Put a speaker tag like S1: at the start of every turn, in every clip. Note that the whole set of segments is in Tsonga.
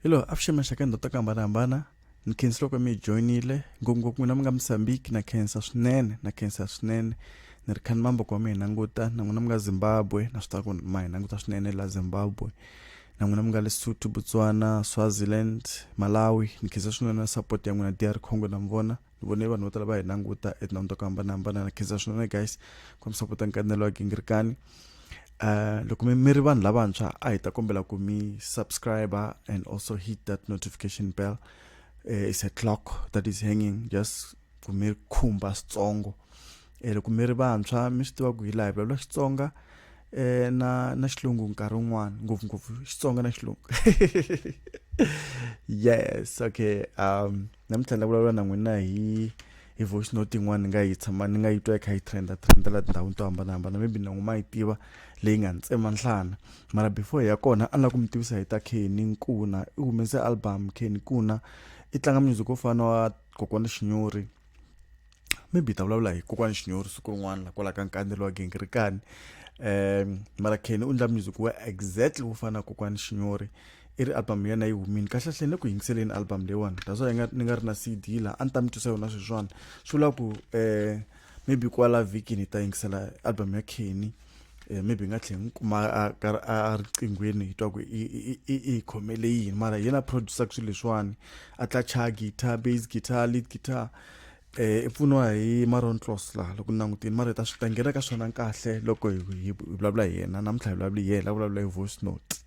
S1: hi loyi a pfixemesa ka ndhawu ta ku hambanahambana ni khensa loko mi hi joyinile ngopfungopfu n'wina mi nga mosambiki na khensa swinene na khensa swinene ni ri khani mambo ku wa mi hi languta na n'wina mi nga zimbabwe na swi tiva ku ma hi languta swinene la zimbabwe na n'wina mi nga lesotho botswana swaziland malawi ni khensa swinene na support ya n'wina dr congo na mi vona ni vone vanhu vo tala va hi languta etindhawini to ku hambanahambana na khensa swinene guys kombisa ku ta nkanelo wa gingirikani um uh, loko mi mi ri vanhu lavantshwa a hi ta kombela ku mi subscriber and also hit that notification bell uh, is a clock that is hanging just ku mi khumba switsongo um loko mi ri vantshwa mi swi tiva ku hi laha hi vulavula xitsonga eh na na xilungu nkarhi wun'wana ngopfungopfu xitsonga na xilungu yes okay um namuntlha ni la vulavula na n'wina hi hi voice note yin'wana ni nga yi tshama ni nga yi twa yi kha yi trenda trenda laha tindhawini to hambanahambana maybe na n'wi ma yi tiva leyi nga ni tsema nhlana mara before ya kona a ni la ku mi tivisa hi ta kheni nkuna i humese album kheni nkuna i tlanga music wo fana wa kokwana xinyori maybe hi ta vulavula hi kokwani xinyori siku rin'wana la kwala ka nkandelo wa gingirikani um mara kheni u ndla music wa exactly wo fana na kokwani xinyori i ri album yena yi humini kahlekahle ni ku yingiseleni album leyiwani that's why ni nga ri na cd laha a ni ta mi twisa yona sweswiwani swi vula ku um maybe kwala vhikini hi ta yingisela album ya kheni um maybe hi nga tlhela ni kuma a riqinghweni hi twa ku i hi khomele yini mara hi yena producer ku swilo leswiwani a tla chaya guitar base guitar lead guitar um eh, i pfuniwa hi maron closla loko ni langutini mara hi ta swi ta nghena ka swona kahle loko hi hi vulavula hi yena namuntlha hi vulavula hi yena vulavula hi voice note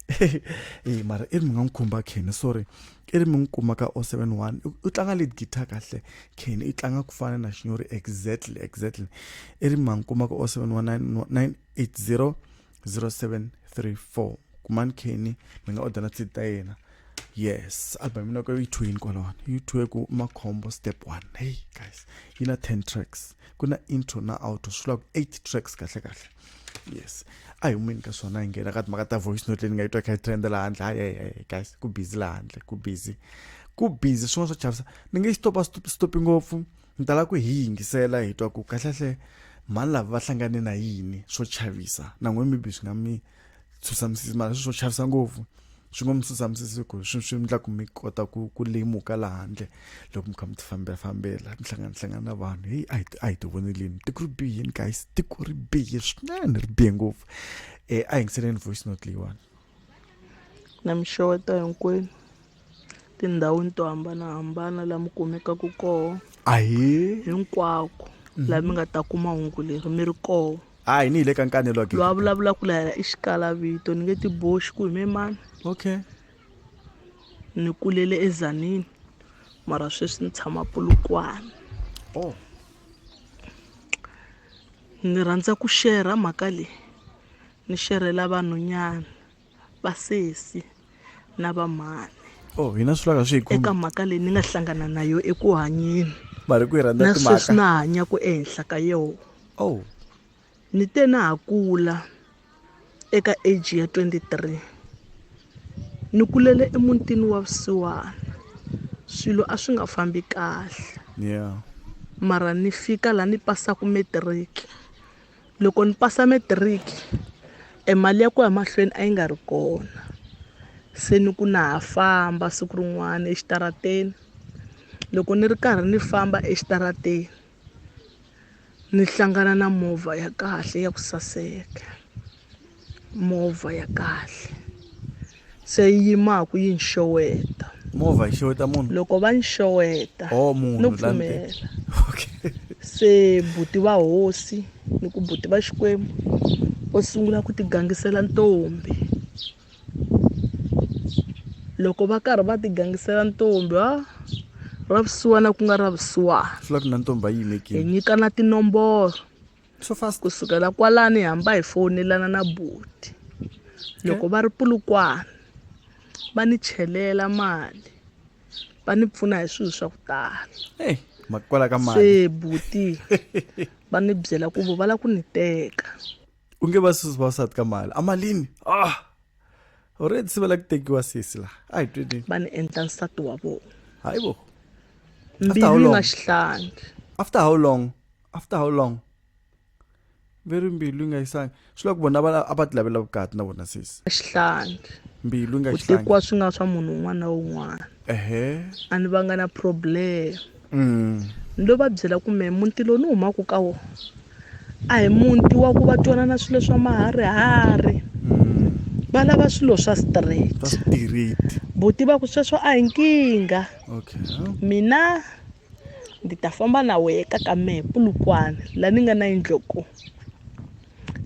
S1: e mara i ri mi nga n'wi khumba kheni sorry i ri mi n'wi kuma ka o seven one u tlanga lead guitar kahle kheni i tlanga ku fana na xinyori exactly exactly i ri mi nga n'wi kuma ka o seven one nine nine eight zero 0734 kumani kheni mi nga odela tshidi ta yena yes album mina ko yi two yini kwalawani yi two ku makhombo step one hey guys yi na 10 tracks ku na intro na outro swi vula ku 8 tracks kahle kahle yes a hi humeni ka swona hi nghena ka timhaka ta voice note leyi ni nga yi twa kha yi trend laha handle hayi guys ku busy laha handle ku busy ku busy swin'wana swa chavisa ni nge yi stopa stopi ngopfu ni tala ku hi yingisela hi twa ku kahlekahle mhani lava va hlangane na yini swo chavisa na n'we maybe swi nga mi tshusamisisi mara swi swo chavisa ngopfu swi nga mi tshusamisisi ku swi swi endla ku mi kota ku ku lemuka laha handle loko mi kha mi tifambelafambela mi hlanganahlangana na vanhu heyi a hi a hi ti vonelini tiko ri bihini guys tiko ri bihe swinene ri bihe ngopfu um a yingiseleni voice note leyiwani
S2: na mi xeweta hinkwenu tindhawini to hambanahambana laha mi kumekaka koho ahee hinkwako laha mi nga ta kuma hungu leri mi ri koho a hi ni hi le ka nkanelo
S1: loyi a vulavulaka la yena
S2: i xikalavito ni nge ti boxi ku hime mani okay ni kulele ezanini mara sweswi ni tshama pulukwana oh ni rhandza ku shera mhaka leyi Ni xerhela vanhunyana, vasesi na vamhani. Oh, hina swi laka
S1: swi hi khumba. Eka mhaka leyi ni nga
S2: hlangana na yo eku hanyeni. Mari ku yi rhandza
S1: timhaka. Na sweswi na hanyaku ehenhla
S2: ka yona. Oh. Ni te na ha kula eka age ya 23 ni kulele emutini wa vusiwana swilo a swi nga fambi kahle yeah.
S1: mara ni
S2: fika laha ni pasaka matric loko ni pasa matric e mali ya ku ya mahlweni a yi nga ri kona se ni ku na ha famba siku rin'wana exitarateni loko ni ri karhi ni famba exitarateni ni hlangana na movha ya kahle ya ku saseka movha ya kahle se yi yimaku yi ni xeweta movha yi xeweta
S1: munhu loko va ni xeweta
S2: oh, munhu no
S1: pfumela
S2: okay.
S1: se
S2: buti va hosi ni ku buti va xikwembu va sungula ku tigangisela ntombi loko va karhi va tigangisela ntombi a ra vusiwana ku nga ra vusiwana swi la ku na ntombi a
S1: yimekile hi nyikana
S2: tinomboro so fast
S1: ku sukela kwalani hi
S2: hamba hi fowunelana na buti loko va ri pulukwana va ni chelela mali va ni pfuna hi swilo swa ku tala hey, makwala
S1: ka mali se buti
S2: va ni byela ku vo va lava ku ni teka u nge va
S1: susi va sati ka mali a malini ah already se va lava ku tekiwa sisi laha a hi twini va ni endla nsati
S2: wa vona hayi bo
S1: mbilu
S2: yi nga xihlangi after how
S1: long after how long very mbilu yi nga yisanga swi loko vona a va
S2: ti
S1: lavela vukati na vona sisi xihlangi mbilu yi nga xihlangi ku tekiwa swi nga swa
S2: munhu un'wana na un'wana ehe a ni va nga na problem mm. ni lo va byela ku me muti lowu ni humaka ka wona a hi muti wa ku va twanana swilo swa maharihari mm. va lava swilo swa straight buti va ku sweswo a hi nkingha mina Ndzi ta famba na wehe ka ka mehe Polokwane la ni nga na yindlo ko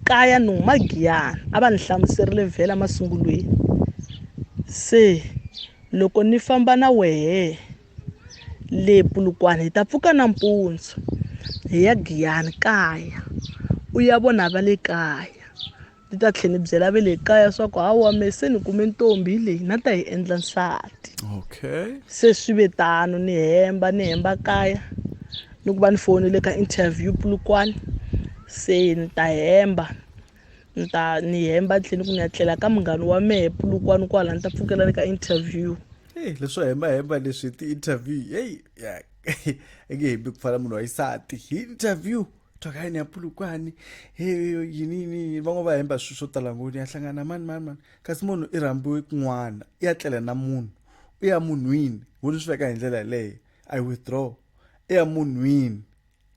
S2: kaya ni huma Giyani a va ni hlamuserile vhela masungulweni se loko ni famba na wehe le Polokwane hi ta pfuka nampundzu hi ya Giyani kaya u ya vona va le kaya Ni ta tlhela ni byela ve le kaya swa ku hawa me se ni kume ntombi hi leyi na ta yi endla nsati okay se swi ve tano ni hemba ni hemba kaya ni ku va ni fowunele ka interview pulukwane se ni ta hemba ni ta ni hemba ni tlhela ni ku ni ya tlela ka munghana wa mehe pulukwane kwala ni ta pfukela ni ka interview Hey, leswo
S1: hembahemba leswi ti-interview heyi ya i nge hembi ku fana munhu wa xisati hi interview twakayi ni ya pulukwani he yini yini van'we va hemba swilo swo tala ngoni ya hlangana mani mani mani kasi munhu i rhambiwe kun'wana i ya tlela na munhu u ya munhwini wo ni swi veka hi ndlela yeleyo i withdraw i ya munhwini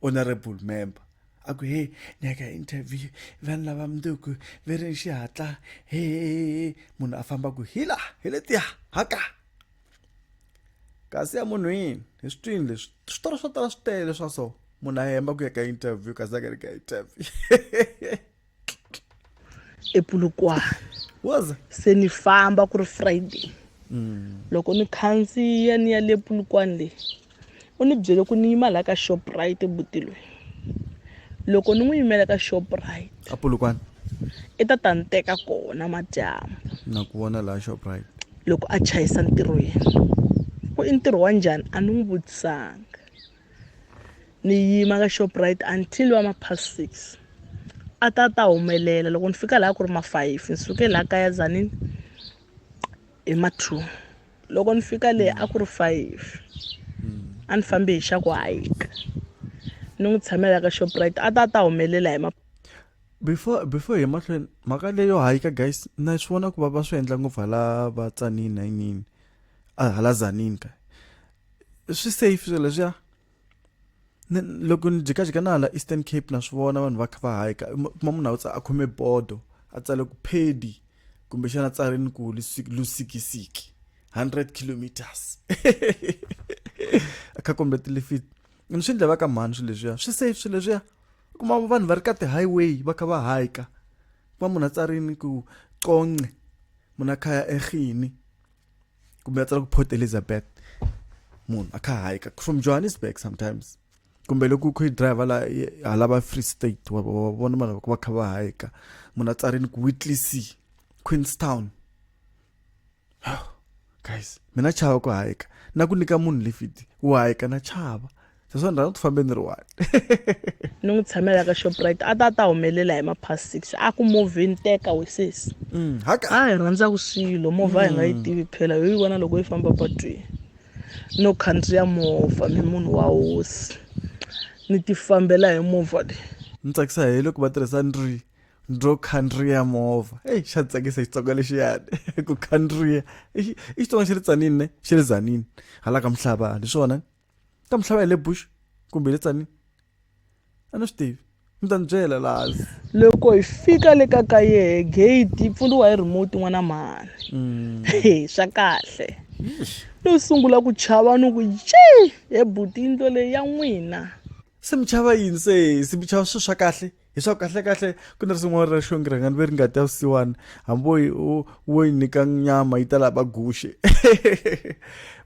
S1: honorable member a ku he ni ya ka interview vanhu lava mundzuku ve ri ni xihatla he munhu a famba ku hi laha hi letiya haka kasi emunhwini hi switwini leswi switori swo tala swi tele swa so munhu a hemba ku ya ka interview kasi a nga ri ka interview
S2: epulukwana waza se ni famba ku ri friday mm. loko ni khandziya ni ya le pulukwana leyi u ni byele ku ni yima laha ka shoprite buti loyi loko ni n'wi yimela ka shoprite a pulukwana
S1: i ta ta
S2: ni teka kona madyambu na ku vona laha
S1: shoprite loko a chayisa
S2: ntirho yena ku i ntirho wa njhani a ni n'wi vutisanga ni yima ka shoprite until va ma past six a ta ta humelela loko ni fika laha ku ri ma-five ni suke laha kaya zanini hi ma-two loko ni fika le a ku ri five a ni fambe hi xa ku hike ni n'wi tshamela ka shoprite a ta a ta humelela hi before
S1: before hi mahlweni mhaka leyo hike guys na swi vona ku va va swi endla ngopfu hala va tsanini na yinini hala zanini ka swi safe swilo leswiya ni loko ni jikajika na hala eastern cape na swi vona vanhu va kha va hayika kuma munhu a a khome bodo a tsale ku phedi kumbexana a tsarini ku lusikisiki 100 kilometers a kha kombe tilifiti ni swi ndlevaka mhani swilo leswiya swi safe swilo leswiya kuma vanhu va ri ka ti-highway va kha va hayika kuma munhu a tsarini ku conce munhu a khaya erhini kumbe va tsala ku port elizabeth munhu a kha hayika from johannesburg sometimes kumbe loko u kho yi driver la hala va free state wa vona vanhu va kha va hayika munhu a tsarini ku whitley sea queenstown guys mina chava ku hayika na ku nyika munhu lifiti u hayika na chava swi swa ndhawu ku fambe ni ri one ni
S2: n'wi tshamela ka shoprite a ta a ta humelela hi mapast six a ku movheni teka wesesi mm, a hi rhandzaka swilo movha hi nga yi mm. tivi phela yo yi vona loko yi famba patwini no khandziya movha mi munhu wa hosi ni ti fambela hi movha leyi ni tsakisa hi loko
S1: va tirhisa ndri ndro khandriya movha eyi xa tsakisa xitsonga lexiyani ku khandriya i xitsonga xi ri tsanini ne xi ri zanini hala ka mihlava ni swona ka mi tlhava hi le bush kumbe hi le tsanini a ni swi tivi mi ta ni byela laha loko hi
S2: fika le ka ka yehe gate yi pfuriwa hi remote n'wana mhani mm. e swa kahle no sungula ku chava ni ku ye he buti yindlo leyi ya n'wina se mi chava
S1: yini se se mi chava swilo swa kahle leswaku kahlekahle ku na swin'wana ra xongi rhangani ve ri nga ta vusiwana hamboyi wo yi nyika nyama yi ta lava guxe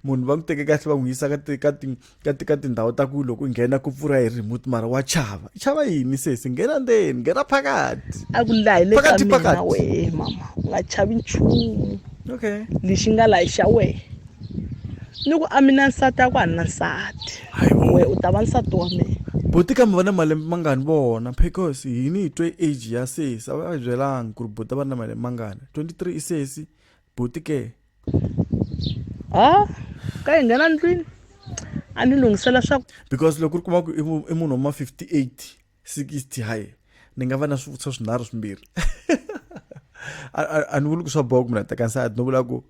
S1: munhu va n'wi teke kahle va n'wi yisa ka ti ka ti ka ti ka tindhawu ta ku loko u nghena ku pfura hi remote mara wa chava chava yini sesi nghena ndzeni nghena phakati a ku laha le ka
S2: mina wehe mama u nga chavi nchumu okay lexi nga laha xa wehe ni ku a mi na nsati a ku a ni na nsati we u ta va nsati wa mina buti kambe va na malembe
S1: mangani vona because hi ni hi twe age ya sesi a va a byelanga ku ri buti va na malembe mangani 23 i sesi buti ke ha
S2: ka hi nghena ndlwini a ni lunghisela swaku because loko ri kuma
S1: ku i munhu wa ma 58 60 hayi ni nga va na swivutiso swinharhu swimbirhi a ni vuli ku swa boha ku munhu a teka nsati no vula ku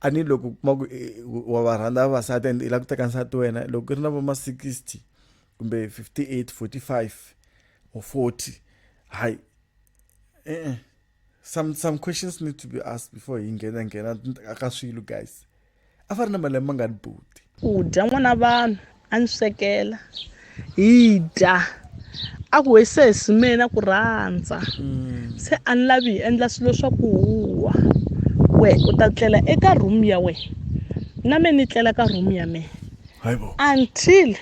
S1: a ni loko kuma ku eh, wa va rhandza vavasati and i lava ku teka nsati wena loko i ri na va ma 60 kumbe 58 45 or 40 hayi e-e some some questions need to be asked before hi nghena nghena ka swilo guys a fa ri na malembe ma nga ni buti u dya n'wana
S2: vanhu a ni swekela hi dya a ku hi se hi simena ku rhandza mm. se a ni lavi hi endla swilo swa ku huwa we u ta tlela eka room ya we na me ni tlela ka room ya me
S1: until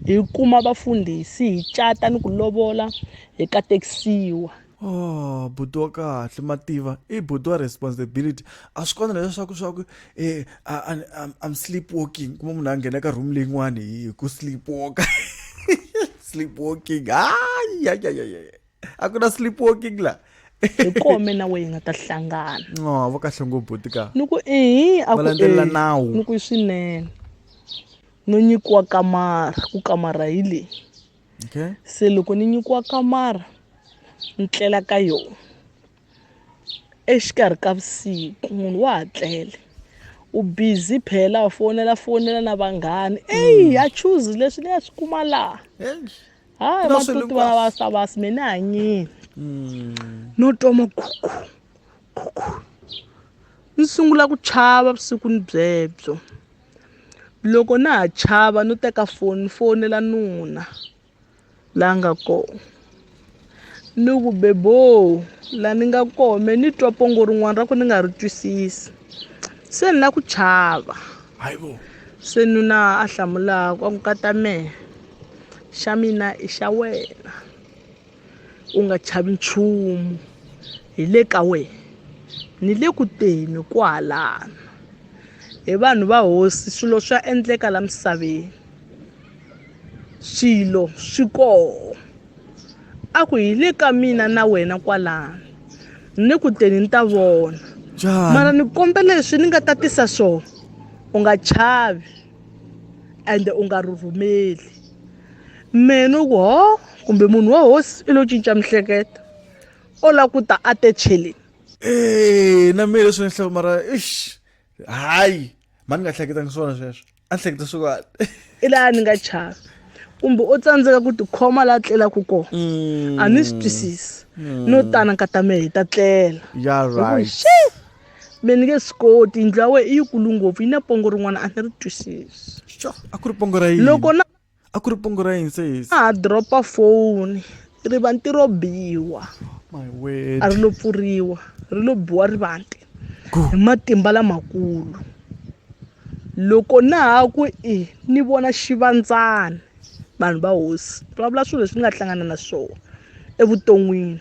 S2: hi kuma vafundhisi hi cata ni ku lovola hi katekisiwa oh
S1: buti wa kahle mativa i buti wa responsibility a swi kona leswaku swa ku eh, i'm sleep walking kuma munhu a nghena ka room leyin'wani hi ku sleep walka sleep walking hayi ya ya ya ya a ku na sleep walking la hi kome
S2: na weyi nga ta hlangana no va kahle ngopfu
S1: buti ka ni ku ehi a
S2: ku landzelela nawu
S1: ni ku swinene
S2: no nyikiwa kamara ku kamara hi leyi okay.
S1: se loko ni
S2: nyikiwa kamara ni tlela ka yona exikarhi ka vusiku munhu wa ha tlele u busy phela u fonela fonela na vanghani eyi hmm. ya choose leswi ni ya swi kuma laha hayi matuti vana va savasi me ni hanyini hmm. no twa makhukhu khukhu ni sungula ku chava vusiku ni byebyo loko na ha chava no teka foni ni fonela nuna la nga kona ni ku beboo la ni nga kona me ni twa pongo rin'wana ra ku ni nga ri twisisi se ni la ku chava
S1: se nuna
S2: a hlamulaka a ku kata mehe xa mina i xa wena u nga chavi nchumu hi le ka wena ni le ku teni kwalano hi vanhu va hosi swilo swa endleka la misaveni swilo swi koho a ku hi le ka mina na wena kwalano ni ku teni ni ta vona mara ni kombe leswi ni nga ta tisa swona u nga chavi ende u nga rhurhumeli mehe no ku ho kumbe munhu wa hosi i lo cinca mihleketo o la ku ta a te cheleni ee
S1: na mehe leswi ni hloko mara ix hayi ma ni nga hleketangi swona sweswo a ni hleketa swi kwani i laha ni nga
S2: chava kumbe o tsandzeka ku tikhoma laha tlelaka kona mm. a ni swi twisisi mm. no tana nkata mehe hi ta tlela ya right me ni nge swi koti yindlu ya wena i yikulu ngopfu yi na pongo rin'wana a ni ri twisisi xo a ku ri pongo
S1: ra yini loko na a ku
S2: ri pongo
S1: ra yini sesi a ha dropa
S2: foni ri va ntirho biwa
S1: a ri lo pfuriwa
S2: ri lo biwa ri vante hi matimba lamakulu loko na ha ku i ni vona xivandzana vanhu va hosi ri vulavula swilo leswi ni nga hlangana na swona evuton'wini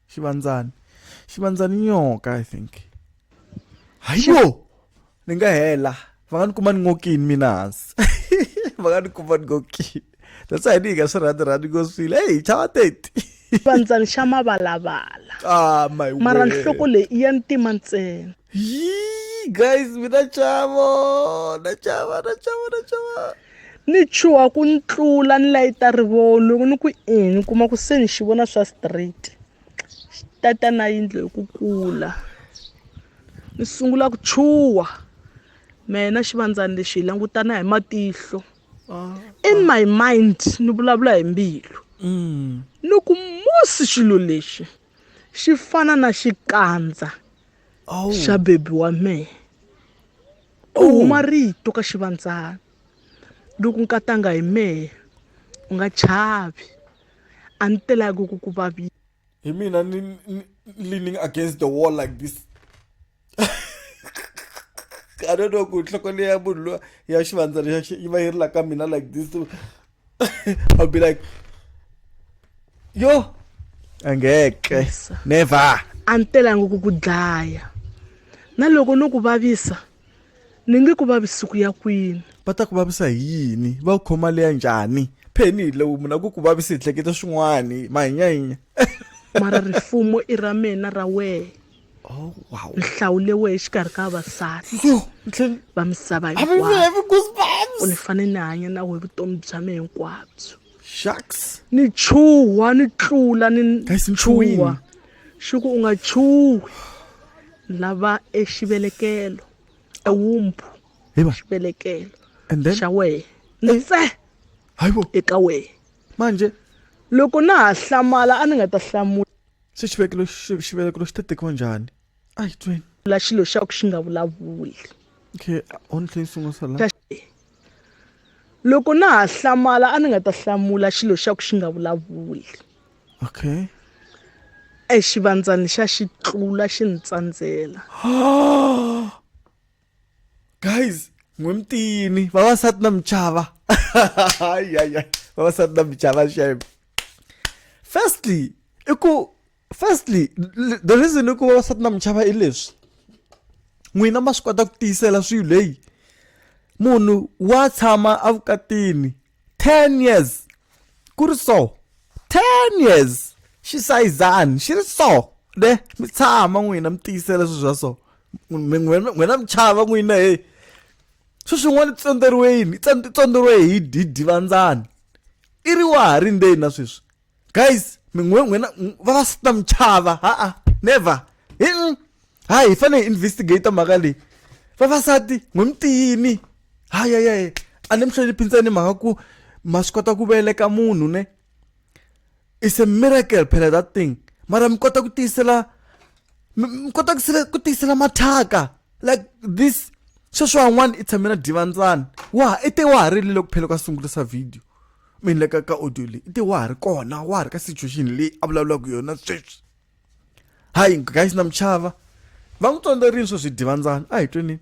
S1: xivandzani xivandzani nyoka i think hayo ni nga hela va nga ni kuma ni ngokini mina hansi va nga ni kuma ni ngokini that's why ni hi nga swi rhandi rhandi ngo swile heyi chava teti xivandzani xa
S2: mavalavala ah, mara
S1: nhloko leyi i ya
S2: ntima ntsena
S1: guys mina chavo na chava na chava na chava
S2: ni chuha ku ni tlula ni layita rivoho loko ni ku i ni kuma ku se ni xi vona swa straight xi tata na yindlo hi ku kula ni sungula ku chuha mina xivandzani lexi hi langutana hi matihlo ah, in ah. my mind ni vulavula hi mbilu mm. ni ku musi xilo lexi xi fana na xikandza oh. xa bebi wa mina Ku huma rito ka xivandzana loko nkatanga hi mehe u nga chavi a ni telaki ku ku vavisa hi mina ni
S1: leaning against the wall like this I don't know ku nhloko leyi ya munhu loyi ya xivandzana yi va yi ri la ka mina like this. I'll be like yo angeke never a ni telanga
S2: ku ku dlaya na loko no ku vavisa ni
S1: nge ku
S2: vavisi
S1: ku ya kwini
S2: va
S1: ta ku vavisa
S2: hi
S1: yini va ku khoma
S2: leya
S1: njhani pheni hi lowu munhu a ku ku vavisa hi hleketa swin'wani mahinyahinya mara
S2: rifumo i ra mina ra wehe oh, wow.
S1: ni hlawulewe
S2: exikarhi ka vavasati va misava hinkwayo
S1: ni fane ni hanya
S2: na we vutomi bya me hinkwabyo shucks
S1: ni chuha
S2: ni tlula ni chuha xi ku u nga chuhi lava exivelekelo ewumbu xivelekelo xa
S1: wehe nse eka wehe
S2: manje
S1: loko na
S2: ha hlamala a ni nga ta hlamula se xivekelo
S1: xivelekelo xi ta tekiwa njhani a hi tweni la xilo xa ku xi
S2: nga vulavuli okay
S1: ontlheni swin'wa swa la
S2: loko na ha hlamala a ni nga ta hlamula xilo xa ku xi nga vulavuli
S1: okay exivandzani
S2: xa xi tlula xi ni tsandzela
S1: guys n'we mutiyini vavasati na muchava vavasati na muchava shem firstly i ku firstly the reason i ku vavasati na muchava i leswi n'wina ma swi kota ku tiyisela swilo leyi munhu wa tshama evukatini 10 years ku ri so 10 years xi sayizani xi ri so ne mi tshama n'wina mi tiyisela swilo swa so n'wina mi chava n'wina heyi swi swin'wana tsondzeriwe yini tsondzeriwe hi hi divandzani i ri wa ha ri ndzeni na sweswi guys mi n'we n'wina n- va va sita michava ha-a never hi mm. ha hi fanele hi investigate mhaka leyi vavasati n'we mi tiyini hayayaye a ni mi hloniphi ntsena mhaka ku ma swi kota ku veleka munhu ne is a miracle phela that thing mara mi kota ku tiyisela mi mi kota ku sele- ku tiyisela mathaka like this sweswiwan'wana i tshamela divandzana wa ha i te wa ha rile loko phela ka sungulisa video mi ni le ka ka audio leyi i te wa ha ri kona wa ha ri ka situation leyi a vulavulaka yona sweswi hayi guys na muchava va n'wi tsondzerini swo swi divandzana a hi tweni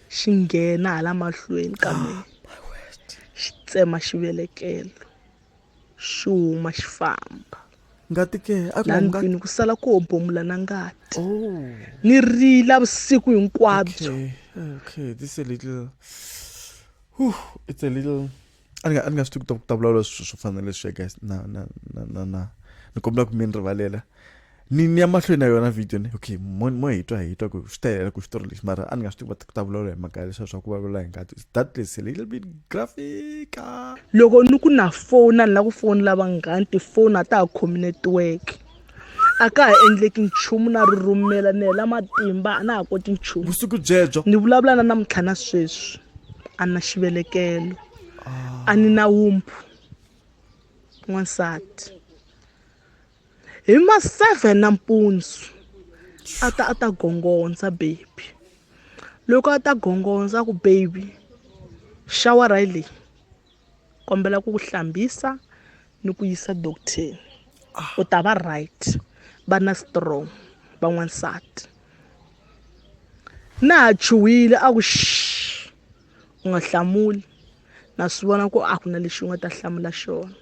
S1: xi nghena
S2: hala mahlweni ka ah, mina xi tsema xivelekelo xi huma xi famba ngati ke
S1: laha ndlwini ku sala
S2: ku hobomula na ngati oh. ni rila vusiku hinkwabyo okay, okay.
S1: This is a little... Whew, it's a little a ni nga a ni nga swi tivi ku ta vulavula swilo swo fana na leswi ya guys na na na na na ni kombela ku mi ni rivalela ni ni ya mahlweni na yona video ni okay mo mo hi twa hi twa ku swi ta helela ku xitori lexi mara a ni nga swi tivi ku ta vulavula hi mhaka ya leswiya swa ku vulavula hi ngati that is a little bit graphica loko ni
S2: ku na fona ni lava ku fonela vanghani tifoni a ta ha khomi network a ka ha endleki nchumu na ri rhumela ni hela matimba a na ha koti nchumu vusiku byebyo ni
S1: vulavula na namuntlha
S2: na sweswi a na xivelekelo a ni na wumphu n'wansati hi ma seven nampundzu a ta a ta gongondza baby loko a ta gongondza ku baby xawara yi leyi kombela ku ku hlambisa ni ku yisa docteni ah. u ta va right va na strong van'wansati na ha chuhile a ku u nga hlamuli na swi vona ku a ku na lexi u nga ta hlamula xona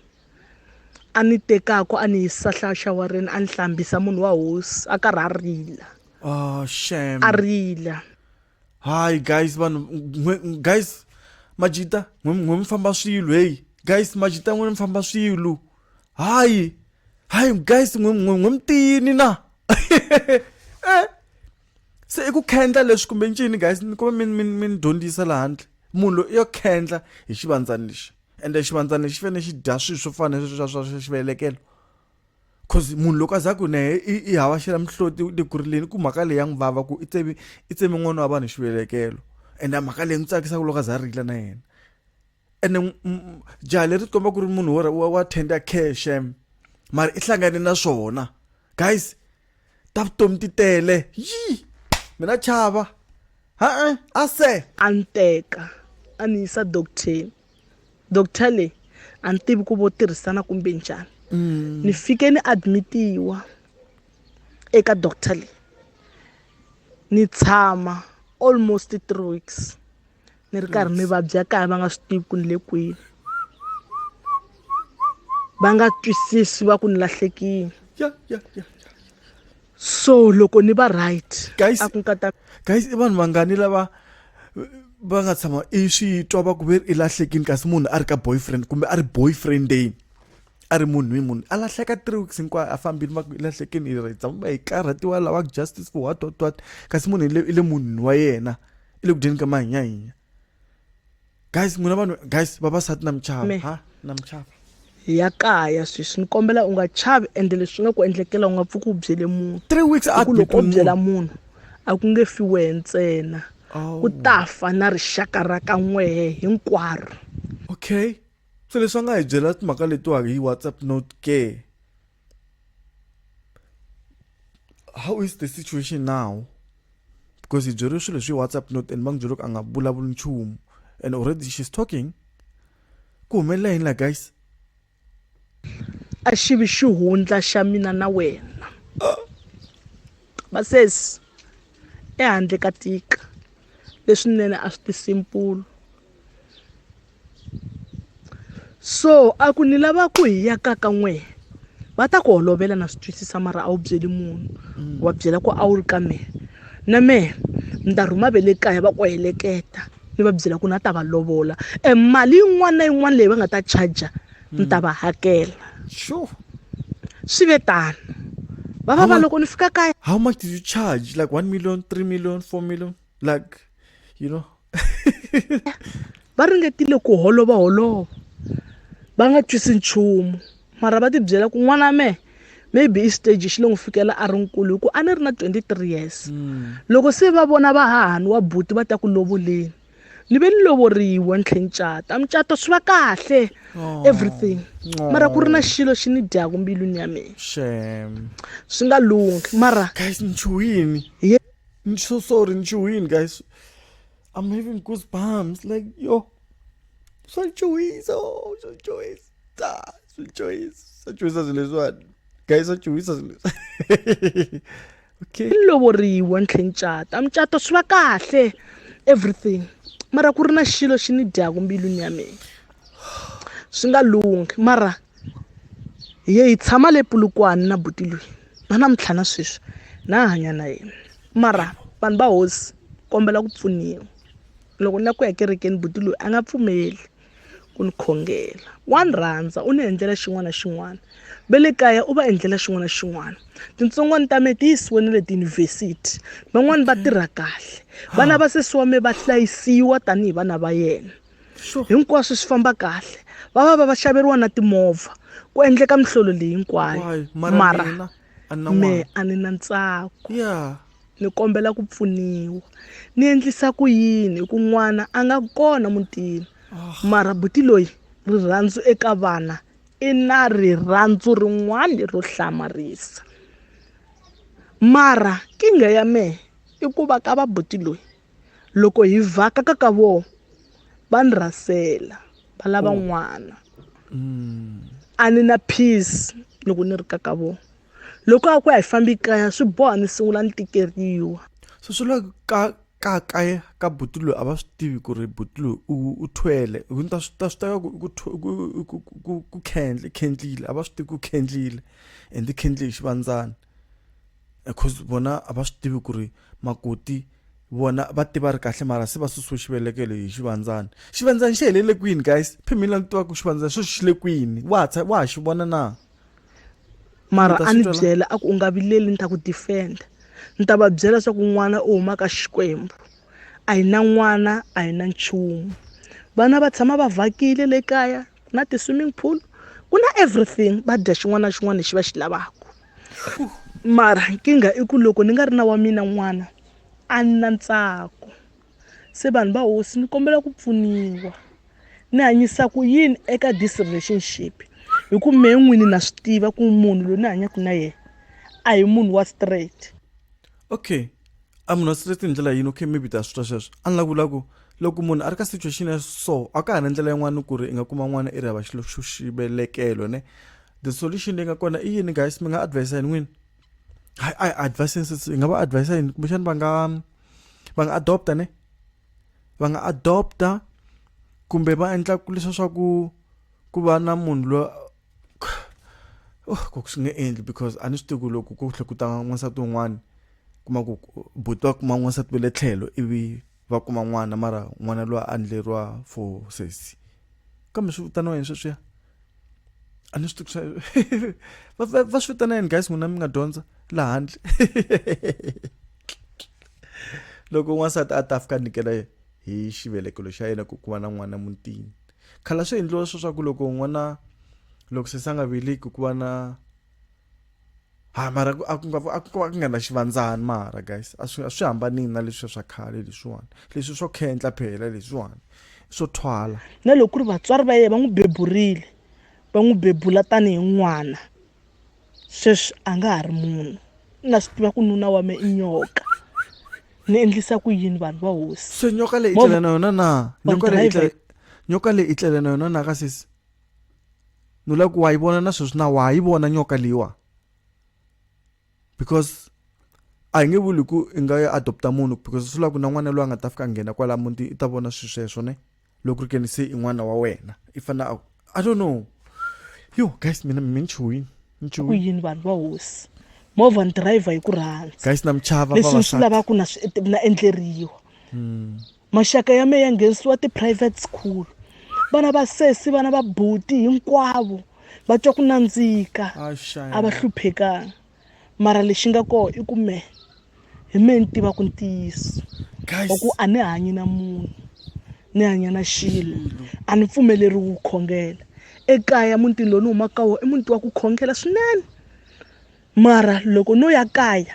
S2: a ni tekako a ni yisa hlaxawareni a ni hlambisa munhu wa hosi a karhi a rila oh,
S1: a rila
S2: Hi
S1: guys vanhu guys majita n'we mi famba swilo hey guys majita n'we mi famba swilo hayi hayi guys n'we n'we mi tiyini na eh se i ku khendla leswi kumbe ncini guys ni kuma mi mi mi dyondzisa la handle munhu loyi yo khendla hi xivandzani lexi ende xivandzani lexi fanele xi dya swilo swo fana na sweswi swa swa xivelekelo cause munhu loko a za ku naye i, i hava xela mihloti u tikurileni ku mhaka leyi ya n'wi vava ku i tsemi i tsemi n'wana wa vanhu xivelekelo and a mhaka leyi n'wi tsakisaka loko a za rila na yena ene jaha leri tikomba ku ri munhu wa tender care shem mara i hlangane na swona guys ta vutomi ti tele yi mina chava ha-e a se a ni teka
S2: a ni yisa docteni doctor leyi a ni tivi ku vo tirhisana kumbe njhani mm. ni fike ni admitiwa eka doctor leyi ni tshama almost three weeks ni ri karhi ni vabya kaya va nga swi tivi ku ni le kwini va nga twisisi va ku ni lahlekile
S1: so loko ni va right
S2: guys
S1: a ku
S2: nkata
S1: guys i vanhu vangani lava va nga tshama i swi twa va ku ve i lahlekini kasi munhu a ri ka boyfriend kumbe a ri boyfriendeni a ri munhu hi munhu a lahleka three weeks hinkwayo a fambile va ku i lahlekini i ritsa kumbe hi karhatiwa lava justice for what what what kasi munhu i le munhwini wa yena i le ku dyeni ka mahinyahinya guys n'wina vanhu guys vavasati na michava Me. ha na michava hi ya kaya
S2: sweswi ni kombela u nga chavi ende leswi nga ku endlekela u nga pfuki u byele munhu three weeks a ku loko
S1: u byela munhu
S2: a ku nge fi wehe ntsena Oh. ku ta fa na rixaka ra ka n'wehe hinkwaro okay
S1: so leswi a nga hi byela timhaka letiwa hi whatsapp note ke how is the situation now because hi byeriwe swilo leswi whatsapp note and va n'wi byeriwe ku a nga vulavuli nchumu and already she's talking ku humelela yini la guys
S2: a xi vi xihundla xa mina na wena vasesi ehandle ka tika leswinene a swi tisimpulo so a ku ni lava ku hi ya ka ka n'we va ta ku holovela na swi twisisa mara a wu byeli munhu mm. wa byela ku a wu ri ka mehe na mehe ni ta rhuma ve le kaya va ku heleketa ni va byela ku na ta va lovola e mali yin'wana na yin'wana leyi va nga ta charger ni ta mm. va hakela
S1: sure swi
S2: ve tano vava va loko ni fika kaya how much did you charge
S1: like one million three million four million like you know
S2: va ringetile ku holova holova va nga twisi nchumu mara va tibyela ku n'wana mehe maybe i stage xi le n'wi fikela a ri nkulu hi ku a ni ri na 23 years mm. loko se va vona va hahani wa buti va ta ku lovoleni ni ve ni lovoriwa ni tlhe ni cata mucato swi va kahle oh. everything oh. mara ku ri na xilo xi ni dyaku mbilwini ya mina
S1: swi nga
S2: lunghi mara hi
S1: I'm so sorry, Joanne, guys. I'm having goosebumps. Like, yo. So Joyce, oh, so Joyce. Ah, so Joyce. So Joyce as this one. Guys, so Joyce as this Okay. Lovoriwa
S2: ntlhenchata. Mchato swi va kahle. Everything. Mara ku ri na xilo xi ni dyaku mbilwini ya mina. Swi nga lunghi. Mara hi ye hi tshama le Pulukwani na buti loyi. na namuntlha na sweswi na ha hanya na yena mara vanhu va hosi kombela ku pfuniwa loko ni la ku ya kerekeni buti loyi a nga pfumeli ku ni khongela wa ni rhandza u ni endlela xin'wana na xin'wana ve le kaya u va endlela xin'wana na xin'wana tintsongwana ta me ti yisiwe ni le tiyunivhesiti van'wani va tirha kahle vana va sesi wa me va hlayisiwa tanihi vana va yena hinkwaswo swi famba kahle va va va va xaveriwa na timovha ku endleka mihlolo leyi hinkwayo Why? Mara mara mina, a ni na me n'wana. a ni na ntsako Yeah. ni kombela ku pfuniwa ni endlisa ku yini hi ku n'wana a nga kona mutini mara buti loyi rirhandzu eka vana i na rirhandzu rin'wana ro hlamarisa mara kinga ya mehe i ku va ka va buti loyi loko hi vhaka ka ka vona va ni rhasela va lava oh. n'wana mm. a ni na peace loko ni ri ka ka vona loko a ku ya hi fambi kaya swi boha ni sungula ni tikeriwa so swi la
S1: ka ka kaya ka buti loyi a va swi tivi ku ri buti loyi u thwele ta swi ta swi teka ku khendle khendlile a va swi tivi ku khendlile and khendle hi xivandzana because vona a va swi tivi ku ri makoti vona va tiva ri kahle mara se va susiwe xivelekelo hi xivandzana xivandzana xi helele kwini guys phemila ni tiva ku xivandzana sweswi xi le kwini wa ha wa ha xi vona na
S2: mara a ni byela a ku u nga vileli ni ta ku defenda ni ta va byela leswaku n'wana u huma ka xikwembu a hi na n'wana a hi na nchumu vana va tshama va vhakile le kaya ku na ti-swimming pool ku na everything va dya xin'wana na xin'wana lexi va xi lavaka mara nkingha i ku loko ni nga ri na wa mina n'wana a ni na ntsako se vanhu va hosi ni kombela ku pfuniwa ni hanyisa ku yini eka this relationship hi ku mehe n'wini na swi tiva ku munhu loyi ni hanyaka na yena a hi munhu wa straight okay
S1: a munhu wa straight hi ndlela yini okay maybe ta swi twa sweswo a ni la ku vula ku loko munhu a ri ka situation ya so a ka ha na ndlela yin'wana ku ri i nga kuma n'wana i ri hava xilo xo xivelekelo ne the solution leyi nga kona i yini guys mi nga advise yini n'wini hayi a advise hi nga va advise yini kumbexani va nga va nga adopta ne va nga adopta kumbe va endla ku leswa swa ku ku va na munhu lo oh ku swi nge endli because a ni swi tivi ku loko ku tlhe ku ta n'wansati wun'wana kuma ku buti va kuma n'wansati ve le tlhelo ivi va kuma n'wana mara n'wana loyi a endleriwa for sesi kambe swi vitaniwa yini sweswiya a ni swi tivi swa va va va swi vitana yini guys n'wina mi nga dyondza laha handle loko n'wansati a ta fika a nyikela hi xivelekelo xa yena ku ku va na n'wana mutini khala swi endliwa sweswaku loko n'wana loko sesi a nga veleki ku va na ha ah, mara a ku nga a ku nga na xivandzani mara guys a swi a swi hambanini na leswi swa khale leswiwani leswi swo khendla phela leswiwani swo thwala na loko ku ri vatswari
S2: va yena va n'wi beburile va n'wi bebula tanihi n'wana sweswi a nga ha ri munhu na swi tiva ku nuna wa me i nyoka ni endlisa ku yini vanhu va hosi se nyoka leyi i tlela na
S1: yona na nyoka leyi i tlela na yona na ka sesi ni lava ku wa yi vona na sweswi na wa yi vona nyoka leyiwa because a hi nge vuli ku i nga yi adopta munhu because swi lava ku na n'wana loyi a nga ta fika a nghena kwala muti i ta vona swilo sweswo ne loko ri keni se i n'wana wa wena i fanele a i don't know yo guys mina mi ni chuhini ni ku chuhini yini vanhu
S2: va hosi movha ni driver hi ku rhandza guys na mi chava leswi ni swi
S1: vavasati lavaka na swi
S2: na endleriwa maxaka ya mehe ya nghenisiwa ti-private school vana va sesi vana va buti hinkwavo va twa ku nandzika a va hluphekanga mara lexi nga koho i ku mehe hi mehe ni tiva ku ntiyiso wa ku a ni hanyi na munhu ni hanya na xilo a ni pfumeleriwi ku khongela ekaya mutini lowu ni humaka ka wona i muti wa ku khongela swinene mara loko no ya kaya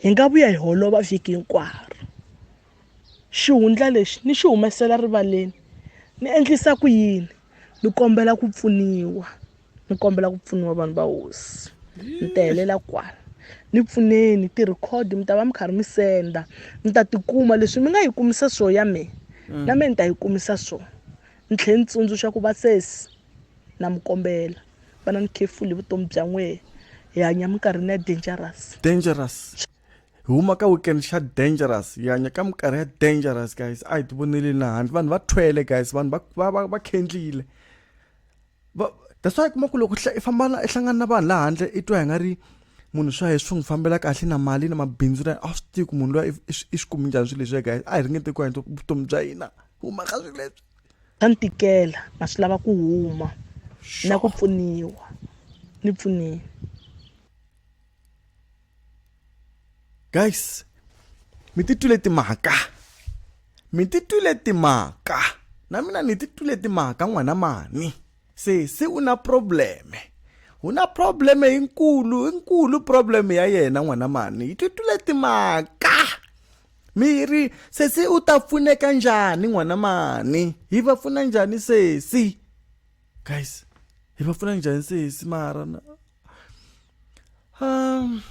S2: hi nga vuya hi holova vhiki hinkwaro xihundla lexi ni xi humesela rivaleni ni endlisa ku yini ni kombela ku pfuniwa ni kombela ku pfuniwa vanhu va hosi ni ta helela kwala ni pfuneni ti-record mi ta va mi karhi mi senda mi ta tikuma leswi mi nga yi kumisa swo ya me mm. na me ni ta yi kumisa swo ni tlhela ni tsundzuxa ku va sesi na mi kombela va na ni khefuli vutomi bya n'wehe hi hanya minkarhini ya dangerous dangerous
S1: huma ka weekend xa dangerous hi hanya ka minkarhi ya dangerous guys a hi ti voneli na handle vanhu va thwele guys vanhu va va va, va khendlile that's why kuma ku loko i famba i hlangana na vanhu laha handle i twa hi nga ri munhu swa hi swi n'wi fambela kahle na mali na mabindzu na a swi tivi ku munhu loyi i swi kumi njhani swilo leswi guys a hi ringete ku endla vutomi bya hina huma ka swilo leswi ta ni tikela
S2: na swi lava ku huma na ku pfuniwa ni pfunile
S1: guys mi titwile timhaka mi titwile timhaka na mina ni titwile timhaka n'wana mani se se u na probleme u na probleme yinkulu yinkulu probleme ya yena n'wana mani yi titwile timhaka miri sesi u ta pfuneka njhani n'wana mani hi va pfuna njhani sesi guys hi va pfuna njhani sesi mara um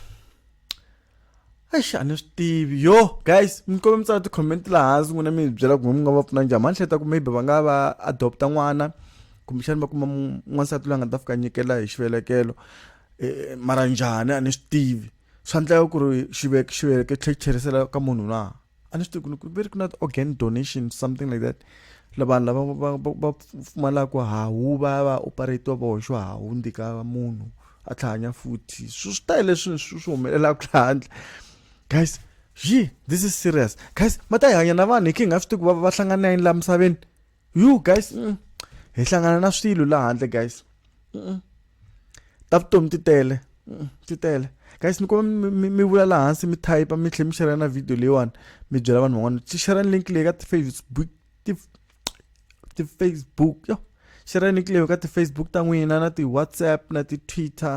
S1: eish a ni swi tivi yo guys mi kombela mi tsala ti-comment laha hansi n'wina mi hi byela kumbe mi nga va pfuna njhani mani hleta ku maybe va nga va adopta n'wana kumbexani va kuma n'wansati loyi a nga ta fika nyikela hi xivelekelo eh, mara njhani a ni swi tivi swa ndleka ku ri xiveke xiveke tlhe tlherisela ka munhu na a ni swi tivi ku ri ku na organ donation something like that lavanhu lava va va pfumalaka hawu va ya va operatiwa va hoxiwa hawu ndzi ka munhu a tlhahanya futhi swi swi tele leswi swi swi humelelaka laha handle guys yi this is serious guys ma ta hi hanya na vanhu hi khe hi nga swi tivi ku va va hlangana yini laha misaveni you guys mm, hi hlangana na swilo laha handle guys mm, ta vutomi ti tele mm, ti tele guys ni kuma mi vula laha hansi mi type mi tlhela mi share na video leyiwani mi byela vanhu van'wana ti share link leyi ka ti-facebook ti ti-facebook yo share link leyi ka ti-facebook ta n'wina na ti-whatsapp na ti-twitter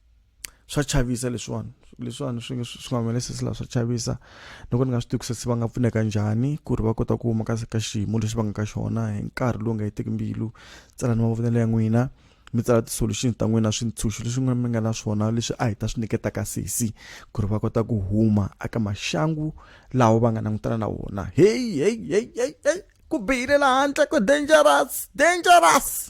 S1: swa chavisa leswiwani leswiwani swi nga swi nga humelesi laha swa chavisa ni ku ni nga swi tivi ku se va nga pfuneka njhani ku ri va kota ku huma ka ka xiyimo lexi va nga ka xona hi nkarhi lowu nga hetiki mbilu tsala ni mavonelo ya n'wina mi tsala ti-solution ta n'wina swintshunxo leswi n'wina mi nga na swona leswi a hi ta swi nyiketaka sesi ku ri va kota ku huma aka maxangu lawa va nga langutana na wona heyi heyi heyi heyi heyi ku bihile laha handle ku dangerous dangerous